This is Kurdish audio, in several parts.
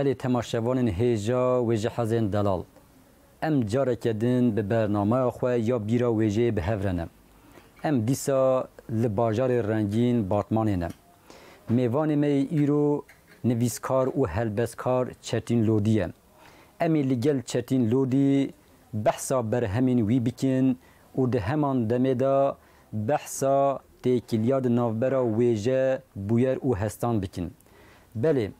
Belê temaşevanên hêja wêjehezên delal, em careke din bi bernamaya xwe ya bîra wêjeyê bi hev re ne. Em dîsa li bajarê rengîn Batmanê ne. Mêvanê me yê îro nivîskar û helbestkar Çetîn Lodî ye. Em ê li gel Çetîn Lodî behsa berhemên wî bikin û di heman demê de behsa têkiliya di navbera wêje, bûyer û hestan bikin. Belê.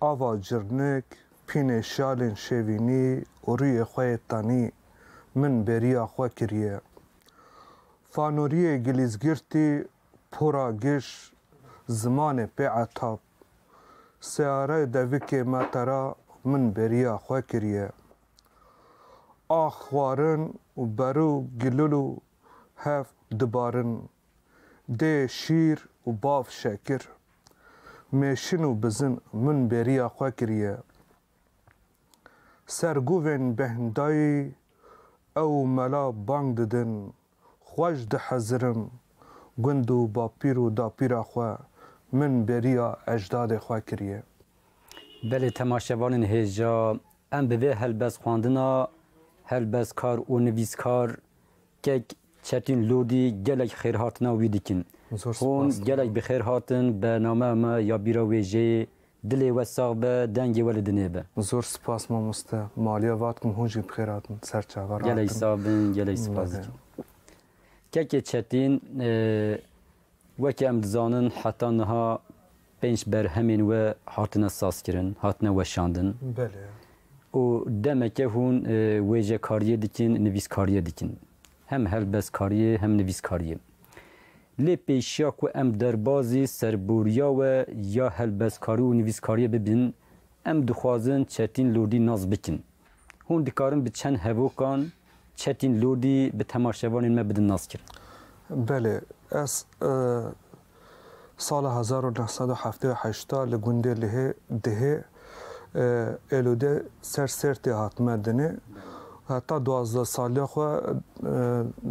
Ava Cirnik, Pînê şalên şevînî û rûyê xwe yê tenî min bêriya xwe kiriye. Fanoriyê gilîzgirtî pora giş zimanê pê etab. Searayê devikê metera min bêriya xwe kiriye. Ax xwarin û berû gilûlû hev dibarin Dê şîr û bav şekir. Mêşin û bizin min bêriya xwe kiriye. Ser guvên Behndaî ew û mela bang didin, Xwe ji dihezirim, gund û bapîr û dapîra xwe min bêriya ejdadê xwe kiriye. Belê temaşevanên hêja, em bi vê helbestxwandina, helbestkar û nivîskar, Kek Çetîn Lodî gelek xêrhatina wî dikin. Hûn gelek bi xêr hatin be nameya me ya bîra wêjeyê. Dilê we sax be, dengê we li dinê be. Zor spas mamoste. Maliya vatikim hûn jî bi xêr hatin ser çaver. Gelek sax bin, gelek spas dikim. Kekê Çetîn Weke em dizanin heta niha pênc berhemên we hatine sazkirin, hatine weşandin û demeke hûn wêjekariyê dikin, nivîskariyê dikin. Hem helbestkariyê hem nivîskariyê. Lê pêşiya ku em derbazî serboriya we ya helbestkarî û nivîskariyê bibin, em dixwazin çetîn lordî nas bikin. Hûn dikarin bi çend hevokan çetîn lordî bi temaşevanên me bidin naskirin? Belê. Ez sala hezar û neh sed û heftê û heşt a li gundê Lihê, Dihê, Êlûdê ser Sêrtê hat me dinê. Heta duwazdeh saliya xwe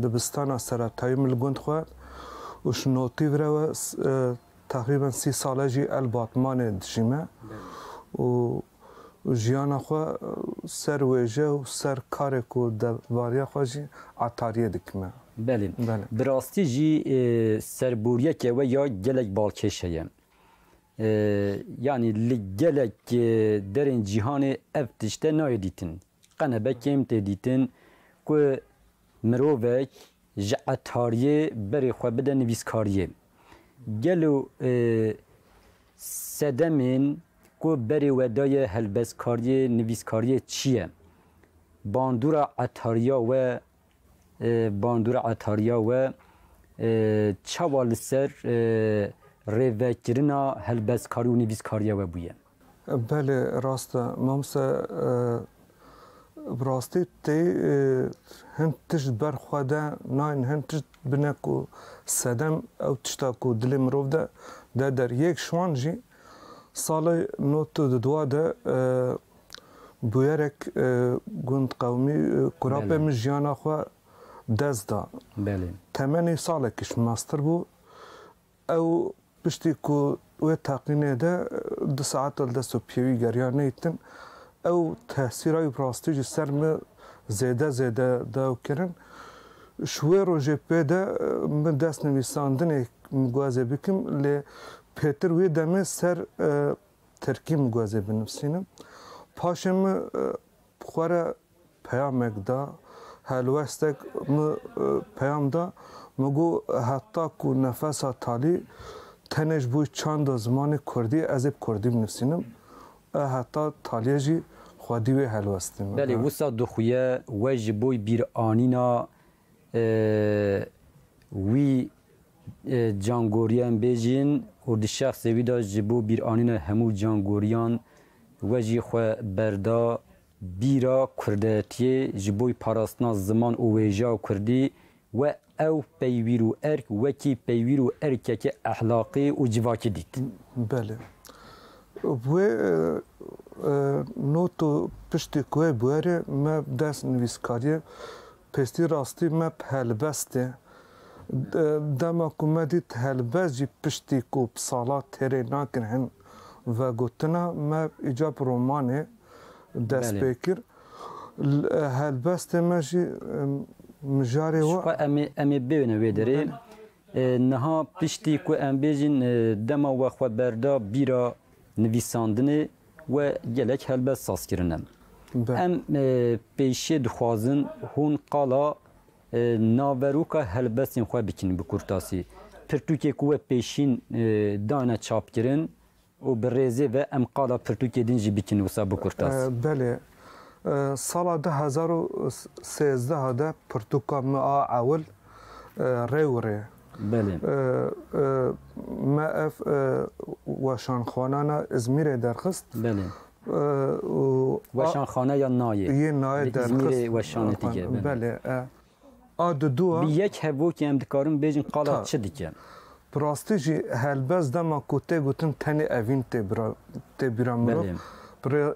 dibistana seretayî min li gund xwend û ji notî vir ew e teqrîben sî sal e jî El Batmanê dijîme û û jiyana xwe ser wêje û ser karê ku devariya xwe jî etariyê dikime. Belê. Bi rastî jî serboriyeke we ya gelek balkêş heye. Yanî li gelek derên cîhanê ev tişte nayê dîtin. Qenebekêm tê dîtin ku mirovek, Ji etariyê berê xwe bide nivîskariyê. Gelo sedemên ku berê we daye helbestkariyê nivîskariyê çi ye? Bandora etariya we Bandora etariya we çawa li ser rêvekirina helbestkarî û nivîskariya we bûye? Belê rast e mamoste bi rastî tê hin tişt ber xwe de nayên hin tişt bine ku sedem ew tişta ku dilê mirov de de der yek ji wan jî salê nod û du dua de bûyerek gund qewimî kurapê min jiyana xwe dest da temenê salekî ji min meztir bû Ew piştî ku wê teqînê de du saet li dest û piyê wî geriya neyt din, ew tesîra wî bi rastî ji ser min zêde zêde daw kirin. Ji wê rojê pê de min dest nivîsandinê migwazê bikim lê pêtir wê demê ser tirkî migwazê binivisînim. Paşê min. Xwe re peyamek da. Helwestek min peyam da, min got heta ku nefesa talî tenê ji bo çanda zimanê kurdî ye, ez ê bi kurdî binivîsim. E heta talîye jî xwedî wê helwestî min. Belê wisa dixuye we ji bo bîranîna Wî cangoriyên bê jîn û di şexsê wî de ji bo bîranîna hemû cangoriyan we jî xwe berda bîra kurdayetiyê ji bo parastina ziman û wêjeya kurdî we ew peywîr û erk wekî peywîr û erkekî ehlaqî û civakî dît. Belê. Wê not û piştî ku wê bûyerê me bi dest nivîskariyê Piştî rastî me bi helbest e. Dema ku me dît helbest jî piştî ku bi salan têrê nakin hin vegotina me îca bi romanê dest pê kir. Helbestê me jî mijarê we. Jixwe em ê bêne wê derê. Niha piştî ku em bêjin dema we xwe berda bîra nivîsandinê We gelek helbest saz kirine. Em pêşê dixwazin hûn qala naveroka helbestên xwe bikin bi kurtasî. Pirtûkê ku we pêşîn dane çapkirin û bi rêzê ve em qala pirtûkê din jî bikin wisa bi kurtasî. Belê. Sala du hezar û sêzdeh de pirtûka me a ewil Rewirê. Belê. Me ev weşanxwana na Îzmîrê derxist. Belê. Û Weşanxana ya nayê. Yê nayê derxist. Li Îzmîrê weşanê dike. Belê. A di dû a. Bi yek hevokê em dikarin bêjin qala çi dike. Bi rastî jî helbest dema ku tê gotin tenê evîn tê bîra mirov. Belê.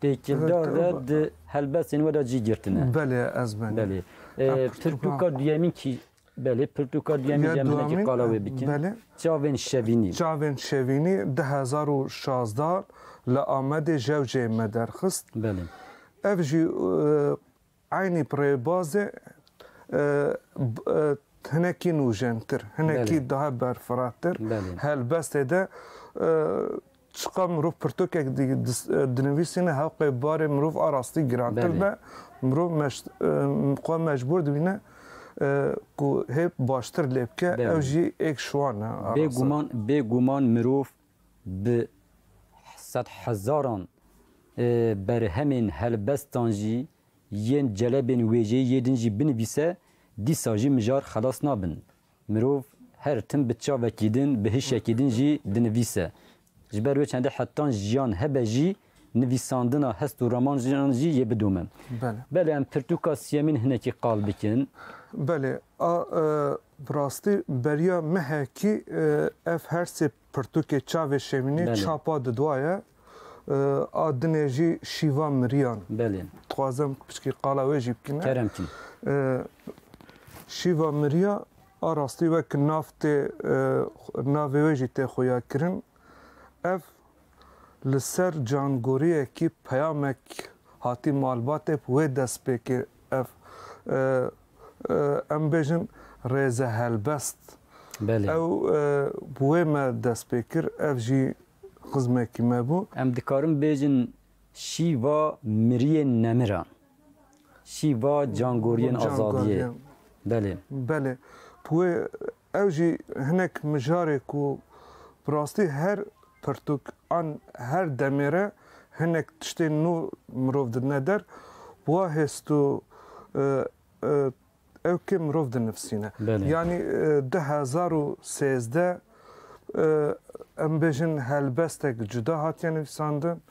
Têkildar de di helbestên we de cî girtine. Belê ez ben. Belê. Pirtûka duyemîn kî Belê pirtûka duyemîn ya minekî qala wê bikin. Belê. Çavên şevînî. Çavên şevînî di hezar û şazda li Amedê jewceyê me derxist. Belê. Ev jî Eynî pirê bazê hinekî nûjentir, hinekî daha berfiratir. Helbestê de çiqa mirov pirtûkek dinivîsîne heqê barê mirov a rastî girantir be. Mirov xwe mecbûr dibîne ku hê baştir lê bike ew jî êk şiwan e. Bêguman bêguman mirov Bi sedhezaran berhemên helbestan jî yên celebên wêjeyî yê din jî binivîse, dîsa jî mijar xelas nabin. Mirov her tim bi çavekî din, bi hişekî din jî dinivîse. Ji ber wê çendê hetan jiyan hebe jî Nivîsandina hest û romanan jî yê bidomin. Belê em pirtûka siyemîn hinekî qal bikin. Belê, a bi rastî beriya me he kî ev her sê pirtûkê çavê şêwînê çapa diduaye, a dinê jî şîva miriyan. Belê. Dixwazim piçkî qala wê jî bikîme. Kerem kî. Şîva miriya a rastî wek nav tê navê wê jî tê xuyakirin. Ev Li ser cangoriyekî peyamek hatî malbatê bi wê dest pê kir, Ev em bêjin rêze helbest. Ew bi wê me dest pê kir, ev jî xizmekî me bû. Em dikarin bêjin şîva miriyên nemiran, şîva cangoriyên azadiyê. Belê. Belê. Bi wê Ew jî hinek mijarê ku bi rastî her pirtûk an her demê re hinek tiştên nû mirov didine der, wa hêst û ewkê mirov dinivîsîne. Yanî du hezar û sêzdeh em bêjin helbestek cuda hatiye nivîsandin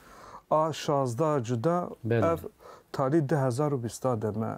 a şazdeh cuda ev talî du hezar û bîsta de me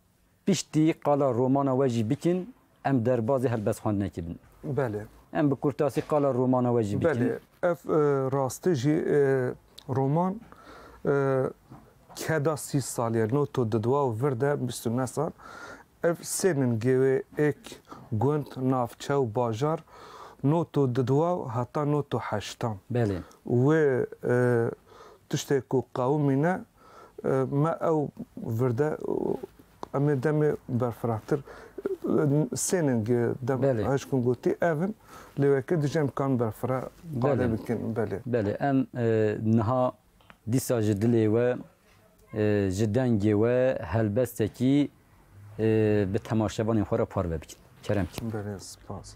Piştî qala romana we jî bikin, em derbazê helbestxwendinekê bin. Belê. Em bi kurtasî qala romana we jî bikin. Belê. Ev rastî jî roman keda sî salî ye. Noto di dua û vir de bîst û neh sal. Ev sê min gewê, êk, gund, navçe û bajar, noto di dua heta noto heştan. Belê. Wê tiştê ku qewimîne Me ew virde em ê demê berfirahtir sênin gi dem hişkin gotî ev in lê weke dijî em kan berfirah qadê bikin belê. Belê em niha dîsa ji dilê we ji dengê we helbestekî bi temaşevanên xwe re parve bikin. Kerem kî. Belê spas.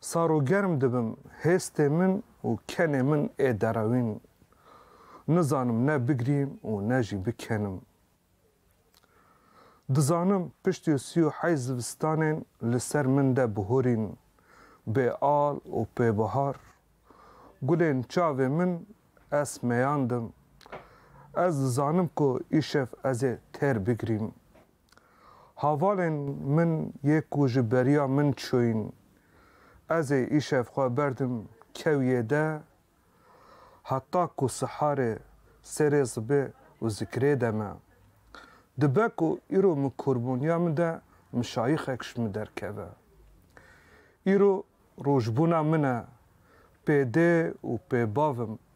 Sar û germ dibim, hêstê min û kenê min ê derewîn. Nizanim ne bigrîm û ne jî bikenim. Dizanim piştî sî û heyt zivistanên li ser min de bihorîn, bê al û pê bihar. Gulên çavê min ez meyandim. Ez dizanim ku îşev ez ê têr bigrîm. Havalên min yê ku ji beriya min çûyn, ez ê îşev xwe berdim kewiyê de heta ku siharê serê zibê û zikirê de me. Dibe ku îro min korboniya min de mişayixek ji min derkeve. Îro rojbûna min e, pê dê û pê bavim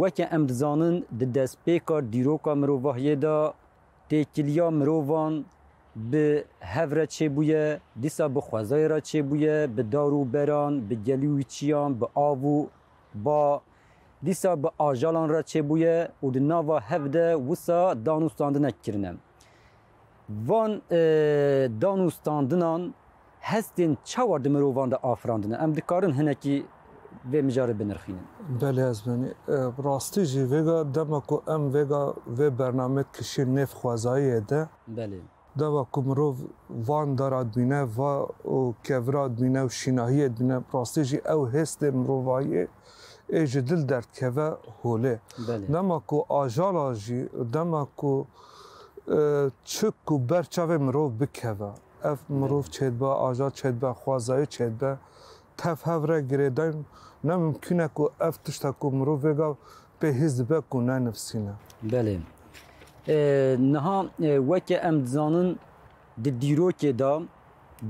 Weke em dizanin di destpêka dîroka mirovahiyê de têkiliya mirovan bi hev re çêbûye, dîsa bi xwezayê re çêbûye, bi dar û beran, bi gelî û çiyan, bi av û ba, dîsa bi ajalan re çêbûye û di nava hev de wisa dan û standinek kirine. Van dan û standinan hestên çawa di mirovan de afirandine? Em dikarin hinekî vê mijarê binirxînin? Belê ez benî. Bi rastî jî vêga dema ku em vêga vê bername kişîn nêv xwezayiyê de. Belê. Dema ku mirov van da ra dibîne, va û kevira dibîne û şînahiyê dibîne, bi rastî jî ew hêstên mirovayiyê Ê ji dil derdkeve holê. Dema ku ajala jî dema ku çik û ber çavê mirov bikeve, ev mirov çê dibe, ajal çê dibe, xwezayê çê dibe, tev hev re girêdayîn ne mimkîn e ku ev tişta ku mirov vêga pê hîs dibe ku ne nivîsîn e. Belê. Niha weke em dizanin di dîrokê de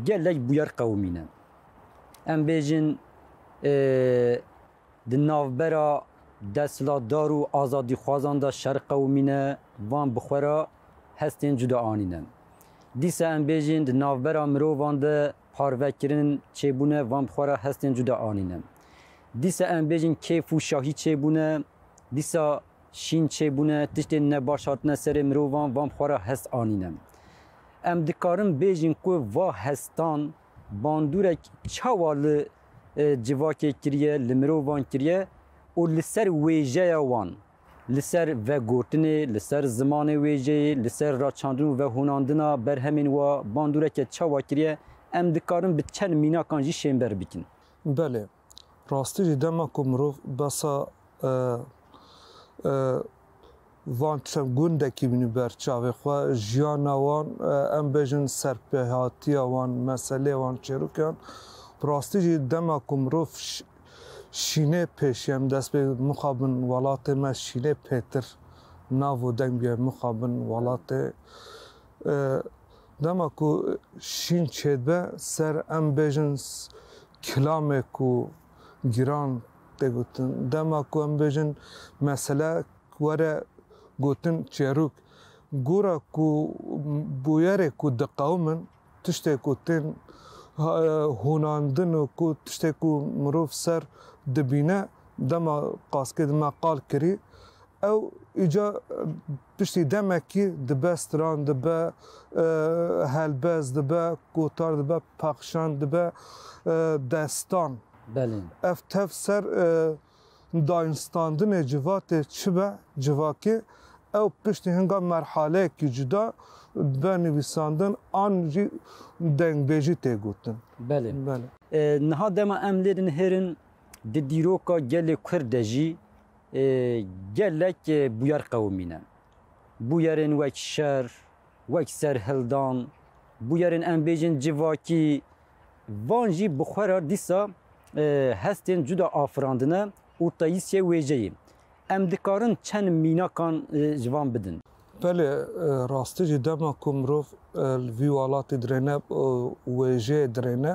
gelek bûyer qewimîne. Em bêjin di navbera desthilatdar û azadîxwazan de şer qewimîne, van bi xwe re hestên cuda anîne. Dîsa em bêjin di navbera mirovan de parvekirin çêbûne, van bi xwe re hestên cuda anîne. Dîsa em bêjin kêf û şahî çêbûne, dîsa şîn çêbûne, tiştên nebaş hatine serê mirovan, van bi xwe re hest anîne. Em dikarin bêjin ku va hestan bandorek çawa li civakê kiriye, li mirovan kiriye û li ser wêjeya wan, li ser vegotinê, li ser zimanê wêjeyê, li ser raçandin û vehûnandina berhemên wa bandoreke çawa kiriye, em dikarin bi çend mînakan jî şênber bikin. Belê. Rastî jî dema ku mirov besa van çend gundekî bînî ber çavê xwe, jiyana wan em bêjin serpêhatiya wan, meselê wan çêrûkan bi rastî jî dema ku mirov şînê pêşî em dest pê mixabin welatê me şînê pêtir nav û deng bîya mixabin welatê dema ku şîn çêdibe ser em bêjin Kilamek ku giran tê gotin. Dema ku em bêjin mesele were gotin çêrûk, gora ku bûyerê ku diqewimin tiştê ku tên hûnandin û ku tiştê ku mirov ser dibîne dema qaskê dime qal kirî ew îcar Piştî demekî dibe stran, dibe helbez, dibe gotar, dibe pexşan, dibe destan. Belê. Ev tev ser dayinstandinê civatê çi be civakê, ew piştî hinga merhaleyekî cuda dibe nivîsandin an jî dengbêjî tê gotin. Belê. Niha dema em lê dinihêrin di dîroka gelê Kurd de jî Gelek bûyer qewimî ne. Bûyerên wek şer, wek serhildan, bûyerên em bêjin civakî, van jî bi xwe re dîsa hestên cuda afirandine û tayîsiyê wêjeyê. Em dikarin çend mînakan ji van bidin. Belê, rastî jî dema ku mirov li vî welatî dirêne û wêjeyê dirêne,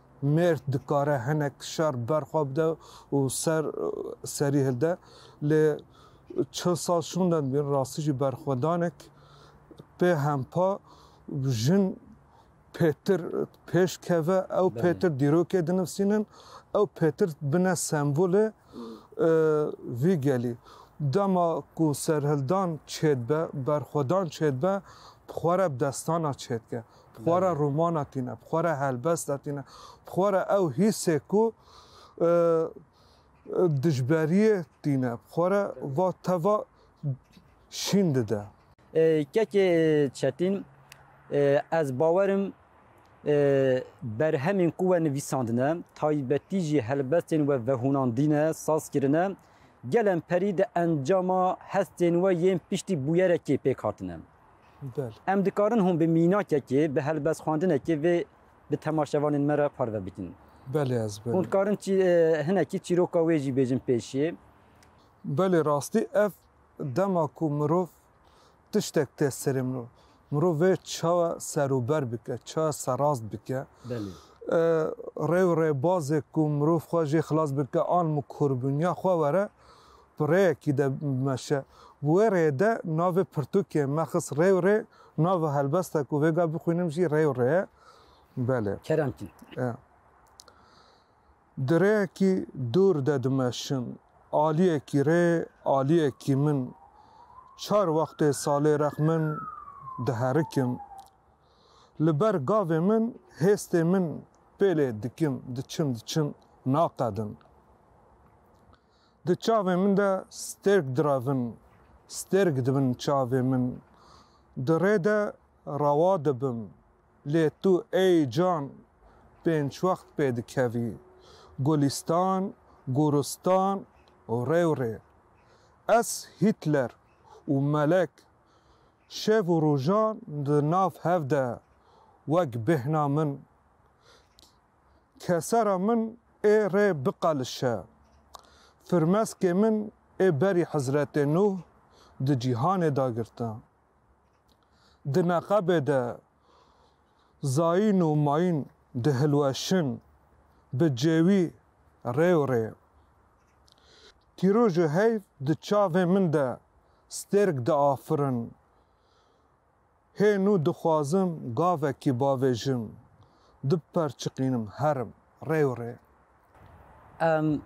Mêrd dikare hinek şer ber xwe bide û ser serî hilde. Lê çil sal şûnde dibîn rastî jî berxwedanek pê hempa jin pêtir pêş keve, ew pêtir dîrokê dinivsînin, ew pêtir bine sembolê vî gelî. Dema ku serhildan çêdibe, berxwedan çêdibe, bi xwe re bi destana çêdike. bi xwe re romana tîne, bi xwe re helbesta tîne, bi xwe re ew hîsê ku dijberiyê tîne, bi xwe re va teva şîn dide. Kekê Çetîn, Ez bawer im berhemên ku we nivîsandine, taybetî jî helbestên we vehûnandîne, saz kirine, gelem perî di encama hestên we yên piştî bûyerekê pêk hatine. Em dikarin hûn bi mînakekê, bi helbestxwendinekê vê bi temaşevanên me re parve bikin. Belê ez belê. Hûn dikarin hinekî çîroka wê jî bêjin pêşê. Belê rastî ev dema ku mirov tiştek tê serê mirov, mirov vê çawa serûber bike, çawa serrast bike. Belê. Rê û rêbazê ku mirov xwe jê xilas bike an mu kurbûniya xwe were, bi rêyekî de bimeşe. Bi wê rêyê de navê pirtûkê me xist rê û rê, nava helbesta ku vêga bixwînim jî rê û rê ye. Belê. Keremtî. E. Di rêyekî dûr de dimeşim. Aliyekî rê, aliyekî min. Çar wextê salê rex min diherikim. Li ber gavê min, hêstê min pêlê dikim, diçim, diçim, naqedim. Di çavên min de stêrk direvin, stêrk dibin çavên min. Di rê de rewa dibim, lê tu ey can pênc wext pê dikevî, Gulîstan, Gûristan û rê û rê. Ez Hîtler û Melek şev û rojan di nav hev de wek bêhna min Kesera min ê rê biqelişe. Firmeskê min ê berî Hizretê Nuh di cîhanê de girta. Di neqebê de zayîn û mayîn dihilweşin bi cêwî rê û rê. Pîroj û heyv di çavê min de stêrk diafirin Hê nû dixwazim gavekî bavêjim, du per çiqînim herim rê û rê. Em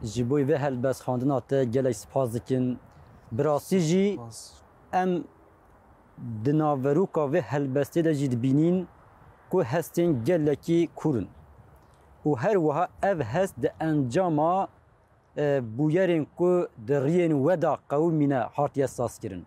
ji bo vê helbestxwendina te gelek spas dikin. Bi rastî jî em di naveroka vê helbestê de jî dibînîn ku hestên gelekî kûr in û her wiha ev hest di encama bûyerên ku di riyên we de qewimîne hatiye sazkirin.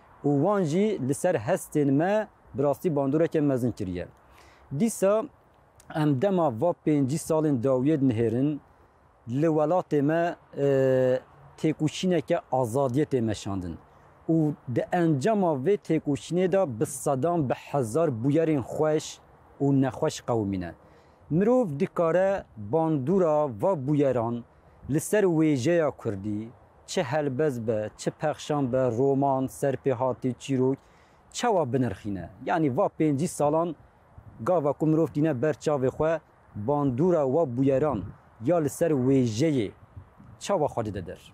û wan jî li ser hestên me bi rastî bandoreke mezin kiriye. Dîsa em dema va pêncî salên dawiyê dinihêrin, li welatê me têkoşîneke azadiyê tê meşandin û di encama vê têkoşînê de bi sedan bi hezar bûyerên xweş û nexweş qewimîne. Mirov dikare bandora va bûyeran li ser wêjeya kurdî, çi helbez be, çi pexşan be, roman, serpêhatî, çîrok, çawa binirxîne? Yanî va pêncî salan gava ku mirov tîne ber çavê xwe, bandora wa bûyeran ya li ser wêjeyê çawa xwe dide der?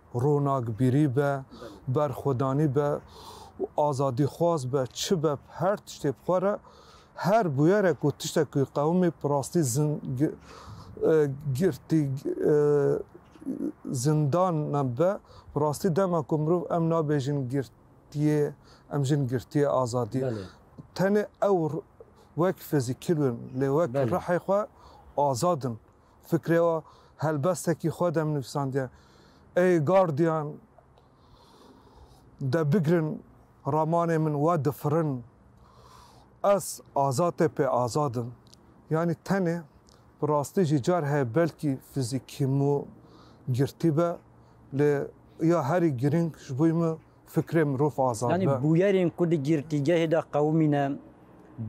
ronakbîrî be, berxwedanî be û azadîxwaz be çi be her tiştê bi xwe re her bûyerek û tiştek ku qewimî bi rastî girtî zindan be bi rastî dema ku mirov em nabêjin girt girtiyê em jin girtiyê azadî tenê ew wek fizîkî bin lê wek rihê xwe azad in. Fikrê wa helbestekî xwe dem nûsandiye. Ey gardiyan de bigrin ramanê min we difirin. Ez azatê pê azad im. Yanî tenê bi rastî jî car heye belkî fizîkî mû girtî be lê ya herî girîng ji bo min Fikrê mirov azad be. Bûyerên ku di girtîgehê de qewimîne,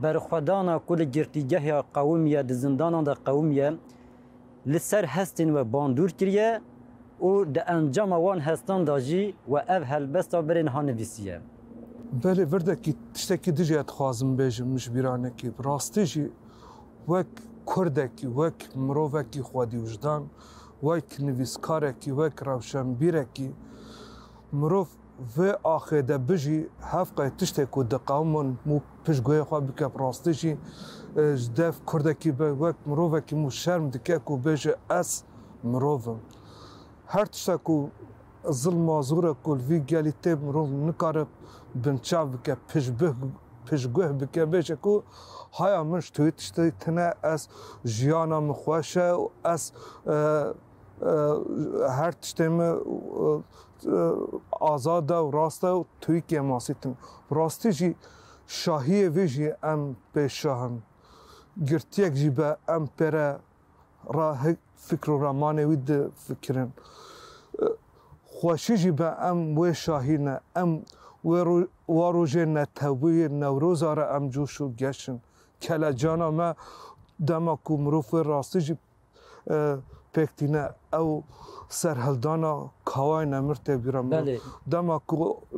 berxwedana ku li girtîgeha qewim ya di zindanan de qewim ya, li ser hestên we bandûr kiriye û di encama wan hestan de jî we ev helbesta birên ha nivîsiye. Belê virdekî tiştekî dijî ya dixwazim bêjim, min ji bîr anî kî bi rastî jî wek kurdekî, wek mirovekî xwedîwijdan, wek nivîskarekî, wek rewşenbîrekî, Mirov vê axê de bijî hev qey tiştê ku diqewimin mû pişt guhê xwe bike bi rastî jî ji dev kurdekî be wek mirovekî mû şerm dike ku bêje ez mirov im. Her tişta ku zilma zor e ku li vî gelî tê mirov nikare binçav bike pişt bih pişt guh bike bêje ku haya min ji tu tiştî tune ez jiyana min xweş e û ez her tiştê me azad e û rast e û Tirkiye masî tim. Rastî jî şahiyê vê jî em pê şah in. Girtiyek jî be em pê re ra fikr û ramanê wî difikirin. Xweşî jî be em wê şahî ne. Em wê wa rojê neteweyê Newroza re em coş û geş in. Kelecana me dema ku mirov wê rastî jî pêk tîne ew serhildana Kawayê Nemir têbîra min û dema ku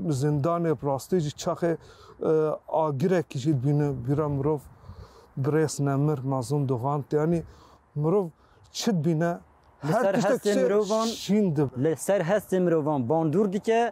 li zindanê bi rastî jî çaxê agirekî jî dibîne bîra mirov birêz Nemir Mazlûm Dogan tê anî mirov çi dibîne her tiştek şîn dibe. Li ser hestê mirovan bandor dike.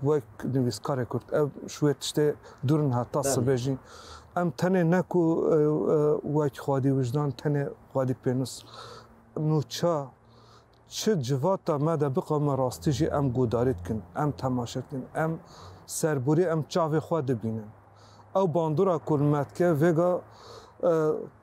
Wek nivîskarê Kurd ev ji wê tiştê dûr niha ta sibê jî em tenê ne ku wek xwedî wijdan tenê xwedî pênûs nûça çi civata me de biqewime rastî jî em guhdarî dikin, em temaşe dikin, em serborî em çavê xwe dibînin. Ew bandora ku li me dike vêga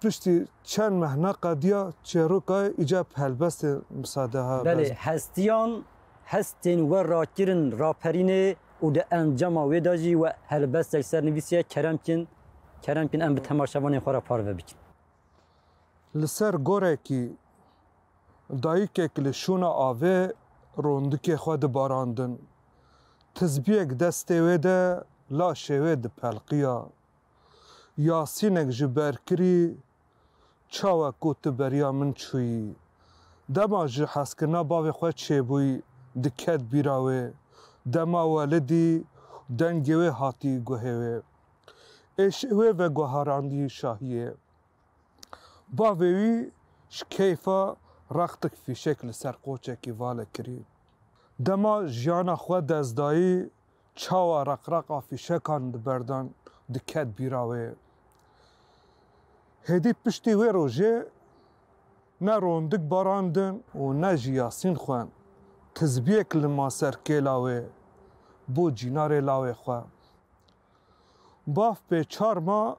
Piştî çend meh neqediya çêrokayê îcab helbestên misadeha bes. Belê hestiyan hestên we rakirin raperînê û di encama wê de jî we helbestek sernivîsiye keremkin keremkin em bi temaşevanên xwe re parve bikin. Li ser gorekî dayikek li şûna avê rondikê xwe dibarandin. Tizbiyek destê wê de laşê wê dipelqiya. Yasînek ji ber kirî Çawa ku tu beriya min çûyî? Dema ji hezkirina bavê xwe çêbûy diket bîra wê. Dema welidî dengê wê hatî guhê wê. Êşê wê veguharandî şahiyê. Bavê wî ji keyfa rextik fîşek li ser qoçekî vale kirî. Dema jiyana xwe dest dayî Çawa reqreqa fîşekan di berdan diket bîra wê. Hêdî piştî wê rojê ne rondik barandin û ne jî yasîn xwen, tizbiyek lima ser kêla wê bo cînarê lawê xwe. Baf pê çar ma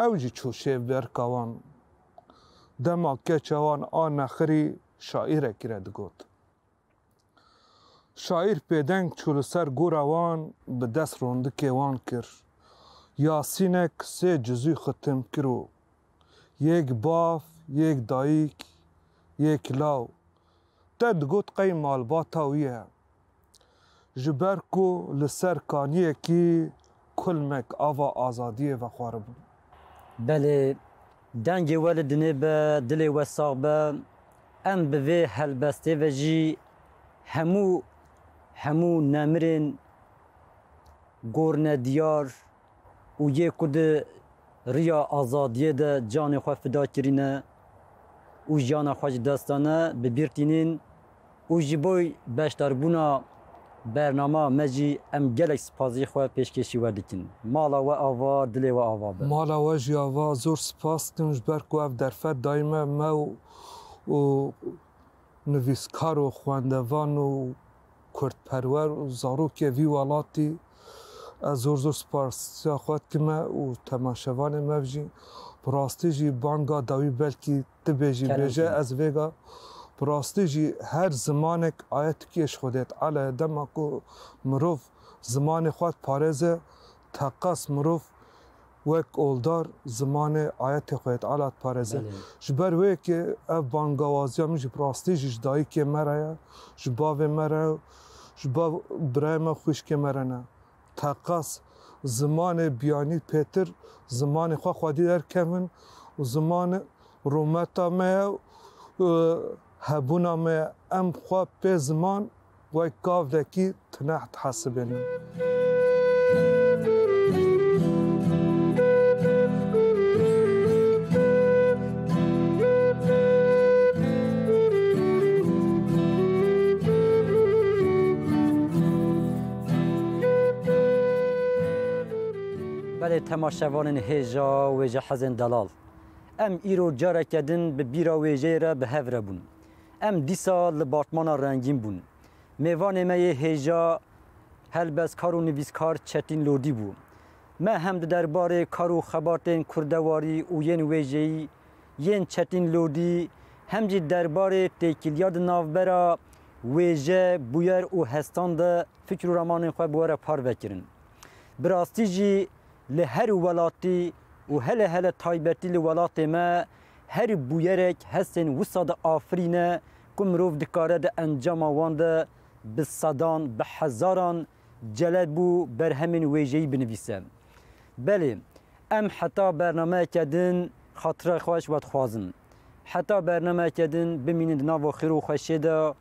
ew jî çû şêv berka wan. Dema keça wan a nexirî şaîrekî re digot. Şaîr pêdeng çû li ser gora wan bi dest rondikê wan kir. Yasînek sê cizûy xwe tim kir û Yek bav, yek dayîk, yek law te digot qey malbata wî ye. Ji ber ku li ser kaniyekî kulmek ava azadiyê vexwaribûn. Belê, dengê we li dinê be, dilê we sax be. Em bi vê helbestê ve jî hemû hemû nemirên gornediyar. û yê ku di riya azadiyê de canê xwe fida kirîne û jiyana xwe ji dest dane bi bîr tînin û ji bo beşdarbûna bernama me jî em gelek sipazî xwe pêşkêşî we dikin. Mala we ava, dilê we ava be. Mala we jî ava, zor sipas dikim ji ber ku ev derfet dayî me, me û nivîskar û xwendevan û. kurdperwer û zarokê vî welatî ez zor zor sipasîya xwe dikime û temaşevanê mev jî bi rastî jî banga dawî belkî ti bê jî bêje ez vêga bi rastî jî her zimanek aye tikîyê ji xwe dêt ele dema ku mirov zimanê xwe diparêze teqas mirov wek oldar zimanê ayetê Xwedê Teala diparêze. Ji ber wê ke ev bangawaziya min jî bi rastî jî ji dayikê me re ye, ji bavê me re û ji bav û birayê me û xwîşkê me re ne. Teqas zimanê biyanî pêtir zimanê xwe xwedî derkevin û ziman rûmeta me ye û hebûna me ye. Em xwe pê ziman Wek gavekî tineh dihesibînim. Belê temaşevanên hêja wêjehezên delal, em îro careke din bi bîra wêjeyê re bi hev re bûn. Em dîsa li Bartmana Rengîn bûn. Mêvanê me yê hêja helbestkar û nivîskar Çetîn Lodî bû. Me hem di derbarê kar û xebatên kurdewarî û yên wêjeyî yên Çetîn Lodî hem jî derbarê têkiliya di navbera wêje, bûyer û hestan de fikir û ramanên xwe bi we re parve kirin. Bi rastî jî li her welatî û hele hele taybetî li welatê me Her bûyerek hestên wisa de afirîne ku mirov dikare di encama wan de bi sedan, bi hezaran celeb û berhemên wêjeyî binivîse. Belê, em heta bernameyeke din xatira xwe ji we dixwazin. Heta bernameyeke din bimînin di nava xêr û xweşiyê de